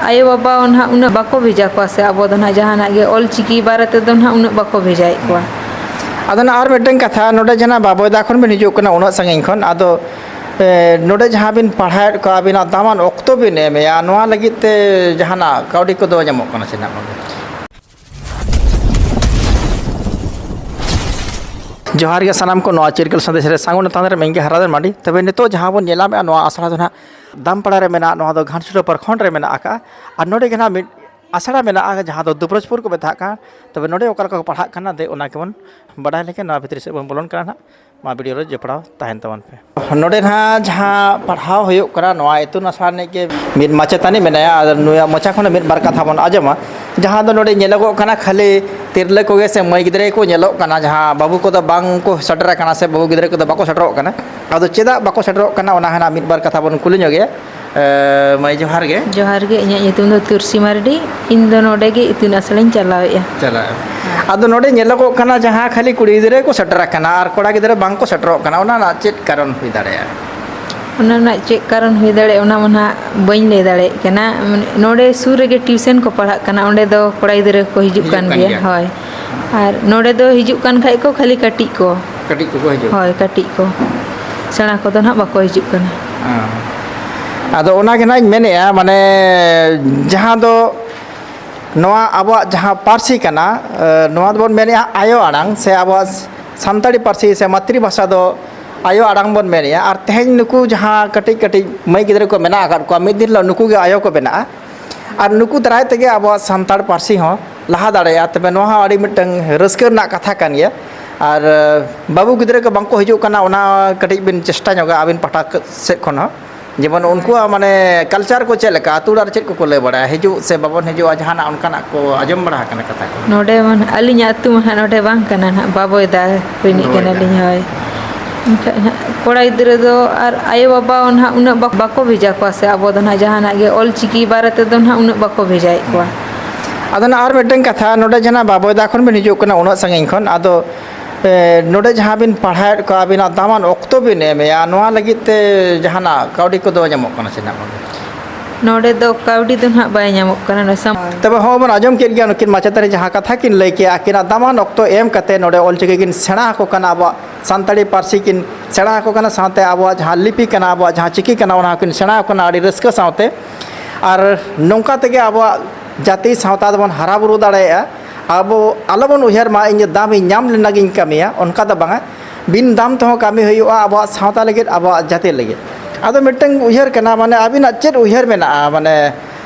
ᱟᱭᱳ ᱵᱟᱵᱟ ᱦᱚᱸ ᱱᱟᱦᱟᱜ ᱩᱱᱟᱹᱜ ᱵᱟᱠᱚ ᱵᱷᱮᱡᱟ ᱠᱚᱣᱟ ᱥᱮ ᱟᱵᱚ ᱫᱚ ᱱᱟᱦᱟᱜ ᱡᱟᱦᱟᱱᱟᱜ ᱜᱮ ᱚᱞ ᱪᱤᱠᱤ ᱵᱟᱨᱮ ᱛᱮᱫᱚ ᱱᱟᱦᱟᱜ ᱩᱱᱟᱹᱜ ᱵᱟᱠᱚ ᱵᱷᱮᱡᱟᱭᱮᱫ ᱠᱚᱣᱟ᱾ ᱟᱫᱚ ᱱᱟᱜ ᱟᱨ ᱢᱤᱫᱴᱮᱱ ᱠᱟᱛᱷᱟ ᱱᱚᱰᱮ ᱡᱮᱱᱟᱜ ᱵᱟᱵᱚᱭᱫᱟ ᱠᱷᱚᱱ ᱵᱤᱱ ᱦᱤᱡᱩᱜ ᱠᱟᱱᱟ ᱩᱱᱟᱹᱜ ᱥᱟᱺᱜᱤᱧ ᱠᱷᱚᱱ ᱟᱫᱚ ᱮᱸ ᱱᱚᱰᱮ ᱡᱟᱦᱟᱸ ᱵᱤᱱ ᱯᱟᱲᱦᱟᱣᱮᱫ ᱠᱚᱣᱟ ᱟᱹᱵᱤᱱᱟᱜ ᱫᱟᱢᱟᱱ ᱚᱠᱛᱚ ᱵᱤᱱ ᱮᱢᱮᱜᱼᱟ ᱱᱚᱣᱟ ᱞᱟᱹᱜᱤᱫ ᱛᱮ ᱡᱟᱦᱟᱱᱟᱜ ᱠᱟᱹᱣᱰᱤ ᱠᱚᱫᱚ ᱧᱟᱢᱚᱜ ᱠᱟᱱᱟ ᱥᱮ ᱱᱟᱜ ᱵᱟᱝ? ᱡᱚᱦᱟᱨ ᱜᱮ ᱥᱟᱱᱟᱢ ᱠᱚ ᱱᱚᱣᱟ ᱪᱤᱨᱠᱟᱹᱞ ᱥᱟᱸᱫᱮᱥ ᱨᱮ ᱥᱟᱹᱜᱩᱱ ᱛᱟᱸᱫᱮ ᱨᱮ ᱢᱮᱱᱜᱮ ᱦᱟᱨᱟᱫᱮᱱ ᱢᱟᱹᱰᱤ ᱛᱚᱵᱮ ᱱᱤᱛᱚᱜ ᱡᱟᱦᱟᱸ ᱵᱚᱱ ᱧᱮᱞᱟᱢᱮᱜᱼᱟ ᱱᱚᱣᱟ ᱟᱥᱲᱟ ᱫᱚ ᱱᱟᱦᱟᱜ ᱫᱟᱢᱯᱟᱲᱟ ᱨᱮ ᱢᱮᱱᱟᱜᱼᱟ ᱱᱚᱣᱟ ᱫᱚ ᱜᱷᱟᱴᱥᱤᱞᱟᱹ ᱯᱨᱚᱠᱷᱚᱸᱰ ᱨᱮ ᱢᱮᱱᱟᱜ ᱟᱠᱟᱜᱼᱟ ᱟᱨ ᱱᱚᱰᱮ ᱜᱮ ᱱᱟᱦᱟᱜ ᱢᱤᱫ ᱟᱥᱲᱟ ᱢᱮᱱᱟᱜᱼᱟ ᱡᱟᱦᱟᱸ ᱫᱚ ᱫᱩᱵᱨᱟᱡᱽᱯᱩᱨ ᱠᱚ ᱢᱮᱛᱟᱜ ᱠᱟᱱ ᱛᱚᱵᱮ ᱱᱚᱰᱮ ᱚᱠᱟ ᱞᱮᱠᱟ ᱠᱚ ᱯᱟᱲᱦᱟᱜ ᱠᱟᱱᱟ ᱫᱮ ᱚᱱᱟ ᱜᱮᱵᱚᱱ ᱵᱟᱰᱟᱭ ᱞᱮᱜᱮ ᱱᱚᱣᱟ ᱵᱷᱤᱛᱨᱤ ᱥᱮᱫ ᱵᱚᱱ ᱵᱚᱞᱚᱱ ᱠᱟᱱᱟ ᱱᱟᱦᱟᱜ ᱱᱚᱣᱟ ᱵᱷᱤᱰᱤᱭᱳ ᱨᱮ ᱡᱚᱯᱲᱟᱣ ᱛᱟᱦᱮᱱ ᱛᱟᱵᱚᱱ ᱯᱮ ᱱᱚᱰᱮ ᱱᱟᱦᱟᱜ ᱡᱟᱦᱟᱸ ᱯᱟᱲᱦᱟᱣ ᱦᱩᱭᱩᱜ ᱠᱟᱱᱟ ᱱᱚᱣᱟ ᱤᱛᱩᱱ ᱟᱥᱲᱟ ᱨᱤᱱᱤᱡ ᱜᱮ ᱢᱤᱫ ᱢᱟᱪᱮᱛᱟᱹᱱᱤ ᱢᱮᱱᱟᱭᱟ ᱟᱨ ᱱᱩᱭᱟᱜ ᱢᱚᱪᱟ ᱠᱷᱚᱱ ᱢᱤᱫ ᱵᱟᱨ ᱠᱟᱛᱷᱟ ᱵᱚᱱ ᱟᱸᱡᱚᱢᱟ ᱡᱟᱦᱟᱸ ᱫᱚ ᱱᱚᱰᱮ ᱧᱮᱞᱚᱜᱚᱜ ᱠᱟᱱᱟ ᱠᱷᱟᱹᱞᱤ ᱛᱤᱨᱞᱟᱹ ᱠᱚᱜᱮ ᱥᱮ ᱢᱟᱹᱭ ᱜᱤᱫᱽᱨᱟᱹ ᱜᱮᱠᱚ ᱧᱮᱞᱚᱜ ᱠᱟᱱᱟ ᱡᱟᱦᱟᱸ ᱵᱟᱹᱵᱩ ᱠᱚᱫᱚ ᱵᱟᱝ ᱠᱚ ᱥᱮᱴᱮᱨ ᱟᱠᱟᱱᱟ ᱥᱮ ᱵᱟᱹᱵᱩ ᱜᱤᱫᱽᱨᱟᱹ ᱠᱚᱫᱚ ᱵᱟᱠᱚ ᱥᱮᱴᱮᱨᱚᱜ ᱠᱟᱱᱟ ᱟᱫᱚ ᱪᱮᱫᱟᱜ ᱵᱟᱠᱚ ᱥᱮᱴᱮᱨᱚᱜ ᱠᱟᱱᱟ ᱚᱱᱟ ᱦᱟᱸᱜ ᱢᱤᱫ ᱵᱟᱨ ᱠᱟᱛᱷᱟ ᱵᱚᱱ ᱠᱩᱞᱤ ᱧᱚᱜᱮᱭᱟ ᱢᱟᱹᱭ ᱡᱚᱦᱟᱨ ᱜᱮ ᱡᱚᱦᱟᱨ ᱜᱮ ᱤᱧᱟᱹᱜ ᱧᱩᱛᱩᱢ ᱫᱚ ᱛᱩᱨᱥᱤ ᱢᱟᱨᱰᱤ ᱤᱧ ᱫᱚ ᱱᱚᱰᱮ ᱜᱮ ᱤᱛᱩᱱ ᱟᱥᱲᱟᱧ ᱪᱟᱞᱟᱣᱮᱫᱼᱟ ᱪᱟᱞᱟᱜᱼᱟ ᱟᱫᱚ ᱱᱚᱰᱮ ᱧᱮᱞᱚᱜᱚᱜ ᱠᱟᱱᱟ ᱡᱟᱦᱟᱸ ᱠᱷᱟᱹᱞᱤ ᱠᱩᱲᱤ ᱜᱤᱫᱽᱨᱟᱹ ᱠᱚ ᱥᱮᱴᱮᱨ ᱟᱠᱟᱱᱟ ᱟᱨ ᱠᱚᱲᱟ ᱜᱤᱫᱽᱨᱟᱹ ᱵᱟᱝ ᱠᱚ ᱥᱮᱴᱮᱨᱚᱜ ᱠᱟᱱᱟ ᱚᱱᱟ ᱨᱮᱱᱟᱜ ᱪᱮᱫ ᱠᱟᱨᱚᱱ ᱦᱩᱭ ᱫᱟᱲᱮᱭᱟᱜᱼᱟ ᱚᱱᱟ ᱨᱮᱱᱟᱜ ᱪᱮᱫ ᱠᱟᱨᱚᱱ ᱦᱩᱭ ᱫᱟᱲᱮᱭᱟᱜᱼᱟ ᱚᱱᱟ ᱢᱟ ᱱᱟᱦᱟᱜ ᱵᱟᱹᱧ ᱞᱟᱹᱭ ᱫᱟᱲᱮᱭᱟᱜ ᱠᱟᱱᱟ ᱱᱚᱰᱮ ᱥᱩᱨ ᱨᱮᱜᱮ ᱴᱤᱭᱩᱥᱚᱱ ᱠᱚ ᱯᱟᱲᱦᱟᱜ ᱠᱟᱱᱟ ᱚᱸᱰᱮ ᱫᱚ ᱠᱚᱲᱟ ᱜᱤᱫᱽᱨᱟᱹ ᱠᱚ ᱦᱤᱡᱩᱜ ᱠᱟᱱ ᱜᱮᱭᱟ ᱦᱳᱭ ᱟᱨ ᱱᱚᱰᱮ ᱫᱚ ᱦᱤᱡᱩᱜ ᱠᱟᱱ ᱠᱷᱟᱡ ᱠᱚ ᱠᱷᱟᱹᱞᱤ ᱠᱟᱹᱴᱤᱡ ᱠᱚ ᱠᱟᱹᱴᱤᱡ ᱠᱚᱠᱚ ᱦᱤᱡᱩᱜ ᱦᱳᱭ ᱠᱟᱹᱴᱤᱡ ᱠᱚ ᱥᱮᱬᱟ ᱠᱚᱫᱚ ᱱᱟᱦᱟᱜ ᱵᱟᱠᱚ ᱦᱤᱡᱩᱜ ᱠᱟᱱᱟ ᱟᱫᱚ ᱚᱱᱟᱜᱮ ᱱᱟᱜ ᱤᱧ ᱢᱮᱱᱮᱫᱼᱟ ᱢᱟᱱᱮ ᱡᱟᱦᱟᱸ ᱫᱚ ᱱᱚᱣᱟ ᱟᱵᱚᱣᱟᱜ ᱡᱟᱦᱟᱸ ᱯᱟᱹᱨᱥᱤ ᱠᱟᱱᱟ ᱱᱚᱣᱟ ᱫᱚᱵᱚᱱ ᱢᱮᱱᱮᱫᱼᱟ ᱟᱭᱳ ᱟᱲᱟᱝ ᱥᱮ ᱟᱵᱚᱣᱟᱜ ᱥᱟᱱᱛᱟᱲᱤ ᱯᱟᱹᱨᱥᱤ ᱥᱮ ᱢᱟᱛᱨᱤ ᱵᱷᱟᱥᱟ ᱫᱚ ᱟᱭᱳ ᱟᱲᱟᱝ ᱵᱚᱱ ᱢᱮᱱᱮᱫᱼᱟ ᱟᱨ ᱛᱮᱦᱮᱧ ᱱᱩᱠᱩ ᱡᱟᱦᱟᱸ ᱠᱟᱹᱴᱤᱡ ᱠᱟᱹᱴᱤᱡ ᱢᱟᱹᱭ ᱜᱤᱫᱽᱨᱟᱹ ᱠᱚ ᱢᱮᱱᱟᱜ ᱟᱠᱟᱫ ᱠᱚᱣᱟ ᱢᱤᱫ ᱫᱤᱱ ᱦᱤᱞᱳᱜ ᱱᱩᱠᱩ ᱜᱮ ᱟᱭᱳ ᱠᱚ ᱵᱮᱱᱟᱜᱼᱟ ᱟᱨ ᱱᱩᱠᱩ ᱫᱟᱨᱟᱭ ᱛᱮᱜᱮ ᱟᱵᱚᱣᱟᱜ ᱥᱟᱱᱛᱟᱲ ᱯᱟᱹᱨᱥᱤ ᱦᱚᱸ ᱞᱟᱦᱟ ᱫᱟᱲᱮᱭᱟᱜᱼᱟ ᱛᱚᱵᱮ ᱱᱚᱣᱟ ᱦᱚᱸ ᱟᱹᱰᱤ ᱢᱤᱫᱴᱟᱹᱝ ᱨᱟᱹᱥᱠᱟᱹ ᱨᱮᱱᱟᱜ ᱠᱟᱛᱷᱟ ᱠᱟᱱ ᱜᱮᱭᱟ ᱟᱨ ᱵᱟᱹᱵᱩ ᱜᱤᱫᱽᱨᱟᱹ ᱠᱚ ᱵᱟᱝ ᱠᱚ ᱦᱤᱡᱩᱜ ᱠᱟᱱᱟ ᱚᱱᱟ ᱠᱟᱹᱴᱤᱡ ᱵᱤᱱ ᱪᱮᱥᱴᱟ ᱧᱚᱜᱟ ᱟᱹᱵᱤᱱ ᱯᱟᱦᱴᱟ ᱥᱮᱫ ᱠᱷᱚᱱ ᱦᱚᱸ ᱡᱮᱢᱚᱱ ᱩᱱᱠᱩᱣᱟᱜ ᱢᱟᱱᱮ ᱠᱟᱞᱪᱟᱨ ᱠᱚ ᱪᱮᱫ ᱞᱮᱠᱟ ᱟᱛᱳ ᱚᱲᱟᱜ ᱨᱮ ᱪᱮᱫ ᱠᱚᱠᱚ ᱞᱟᱹᱭ ᱵᱟᱲᱟᱭᱟ ᱦᱤᱡᱩᱜ ᱥᱮ ᱵᱟᱵᱚᱱ ᱦᱤᱡᱩᱜᱼᱟ ᱡᱟᱦᱟᱱᱟᱜ ᱚᱱᱠᱟᱱᱟᱜ ᱠᱚ ᱟᱸᱡᱚᱢ ᱵᱟᱲᱟ ᱟᱠᱟᱱᱟ ᱠᱟᱛᱷᱟ ᱠᱚ ᱱᱚᱰᱮ ᱢᱟ ᱱᱟᱦᱟᱜ ᱟᱹᱞᱤᱧᱟᱜ ᱟᱛᱳ ᱢᱟ ᱱᱟᱦᱟᱜ ᱱᱚᱰᱮ ᱵᱟᱝ ᱠᱟᱱᱟ ᱱᱟᱦᱟᱜ ᱵᱟᱵᱳᱭᱫᱟ ᱨᱤᱱᱤᱡ ᱠᱟᱱᱟᱞᱤᱧ ᱦᱳᱭ ᱮᱱᱠᱷᱟᱡ ᱦᱟᱸᱜ ᱠᱚᱲᱟ ᱜᱤᱫᱽᱨᱟᱹ ᱫᱚ ᱟᱨ ᱟᱭᱳᱼᱵᱟᱵᱟ ᱦᱚᱸ ᱱᱟᱦᱟᱜ ᱩᱱᱟᱹᱜ ᱵᱟᱠᱚ ᱵᱷᱮᱡᱟ ᱠᱚᱣᱟ ᱥᱮ ᱟᱵᱚ ᱫᱚ ᱱᱟᱦᱟᱜ ᱡᱟᱦᱟᱱᱟᱜ ᱜᱮ ᱚᱞ ᱪᱤᱠᱤ ᱵᱟᱨᱮ ᱛᱮᱫᱚ ᱱᱟᱦᱟᱜ ᱩᱱᱟᱹᱜ ᱵᱟᱠᱚ ᱵᱷᱮᱡᱟᱭᱮᱫ ᱠᱚᱣᱟ ᱟᱫᱚ ᱱᱟᱜ ᱟᱨ ᱢᱤᱫᱴᱮᱱ ᱠᱟᱛᱷᱟ ᱱᱚᱰᱮ ᱡᱟᱦᱟᱸ ᱵᱟᱵᱚᱭᱫᱟ ᱠᱷᱚᱱ ᱵᱤᱱ ᱦᱤᱡᱩᱜ ᱠᱟᱱᱟ ᱩᱱᱟᱹᱜ ᱥᱟᱺᱜᱤᱧ ᱠᱷᱚᱱ ᱟᱫᱚ ᱱᱚᱰᱮ ᱡᱟᱦᱟᱸ ᱵᱤᱱ ᱯᱟᱲᱦᱟᱣᱮᱫ ᱠᱚᱣᱟ ᱟᱹᱵᱤᱱᱟᱜ ᱫᱟᱢᱟᱱ ᱚᱠᱛᱚ ᱵᱤᱱ ᱮᱢᱮᱜᱼᱟ ᱱᱚᱣᱟ ᱞᱟᱹᱜᱤᱫ ᱛᱮ ᱡᱟᱦᱟᱱᱟᱜ ᱠᱟᱹᱣᱰᱤ ᱠᱚᱫᱚ ᱧᱟᱢᱚᱜ ᱠᱟᱱᱟ ᱥᱮ ᱵᱟᱝ ᱱᱚᱰᱮ ᱫᱚ ᱠᱟᱹᱣᱰᱤ ᱫᱚ ᱱᱟᱦᱟᱜ ᱵᱟᱭ ᱧᱟᱢᱚᱜ ᱠᱟᱱᱟ ᱛᱚᱵᱮ ᱦᱚᱸ ᱵᱚᱱ ᱟᱸᱡᱚᱢ ᱠᱮᱫ ᱜᱮᱭᱟ ᱱᱩᱠᱤᱱ ᱢᱟᱪᱮᱛᱟᱹᱱᱤ ᱡᱟᱦᱟᱸ ᱠᱟᱛᱷᱟ ᱠᱤᱱ ᱞᱟᱹᱭ ᱠᱮᱜᱼᱟ ᱟᱹᱠᱤᱱᱟᱜ ᱫᱟᱢᱟᱱ ᱚᱠᱛᱚ ᱮᱢ ᱠᱟᱛᱮᱫ ᱱᱚᱰᱮ ᱚᱞ ᱪᱤᱠᱤ ᱠᱤᱱ ᱥᱮᱬᱟ ᱟᱠᱚ ᱠᱟᱱᱟ ᱟᱵᱚᱣᱟᱜ ᱥᱟᱱᱛᱟᱲᱤ ᱯᱟᱹᱨᱥᱤ ᱠᱤᱱ ᱥᱮᱬᱟ ᱟᱠᱚ ᱠᱟᱱᱟ ᱥᱟᱶᱛᱮ ᱟᱵᱚᱣᱟᱜ ᱡᱟᱦᱟᱸ ᱞᱤᱯᱤ ᱠᱟᱱᱟ ᱟᱵᱚᱣᱟᱜ ᱡᱟᱦᱟᱸ ᱪᱤᱠᱤ ᱠᱟᱱᱟ ᱚᱱᱟ ᱦᱚᱸᱠᱤᱱ ᱥᱮᱬᱟ ᱟᱠᱚ ᱠᱟᱱᱟ ᱟᱹᱰᱤ ᱨᱟᱹᱥᱠᱟᱹ ᱥᱟᱶᱛᱮ ᱟᱨ ᱱᱚᱝᱠᱟ ᱛᱮᱜᱮ ᱟᱵᱚᱣᱟᱜ ᱡᱟᱹᱛᱤ ᱥᱟᱶᱛᱟ ᱫᱚᱵᱚᱱ ᱦᱟᱨᱟ ᱵᱩᱨᱩ ᱫᱟᱲᱮᱭᱟᱜᱼᱟ ᱟᱵᱚ ᱟᱞᱚ ᱵᱚᱱ ᱩᱭᱦᱟᱹᱨ ᱢᱟ ᱤᱧ ᱫᱚ ᱫᱟᱢ ᱤᱧ ᱧᱟᱢ ᱞᱮᱱᱟ ᱜᱤᱧ ᱠᱟᱹᱢᱤᱭᱟ ᱚᱱᱠᱟ ᱫᱚ ᱵᱟᱝᱟ ᱵᱤᱱ ᱫᱟᱢ ᱛᱮᱦᱚᱸ ᱠᱟᱹᱢᱤ ᱦᱩᱭᱩᱜᱼᱟ ᱟᱵᱚᱣᱟᱜ ᱥᱟᱶᱛᱟ ᱞᱟᱹᱜᱤᱫ ᱟᱵᱚᱣᱟᱜ ᱡᱟᱹᱛᱤ ᱞᱟᱹᱜᱤᱫ ᱟᱫᱚ ᱢᱤᱫᱴᱟᱹᱝ ᱩᱭᱦᱟᱹᱨ ᱠᱟᱱᱟ ᱢᱟᱱᱮ ᱟᱹᱵᱤᱱᱟᱜ ᱪᱮᱫ ᱩᱭᱦᱟᱹᱨ ᱢᱮᱱᱟᱜᱼᱟ ᱢᱟᱱᱮ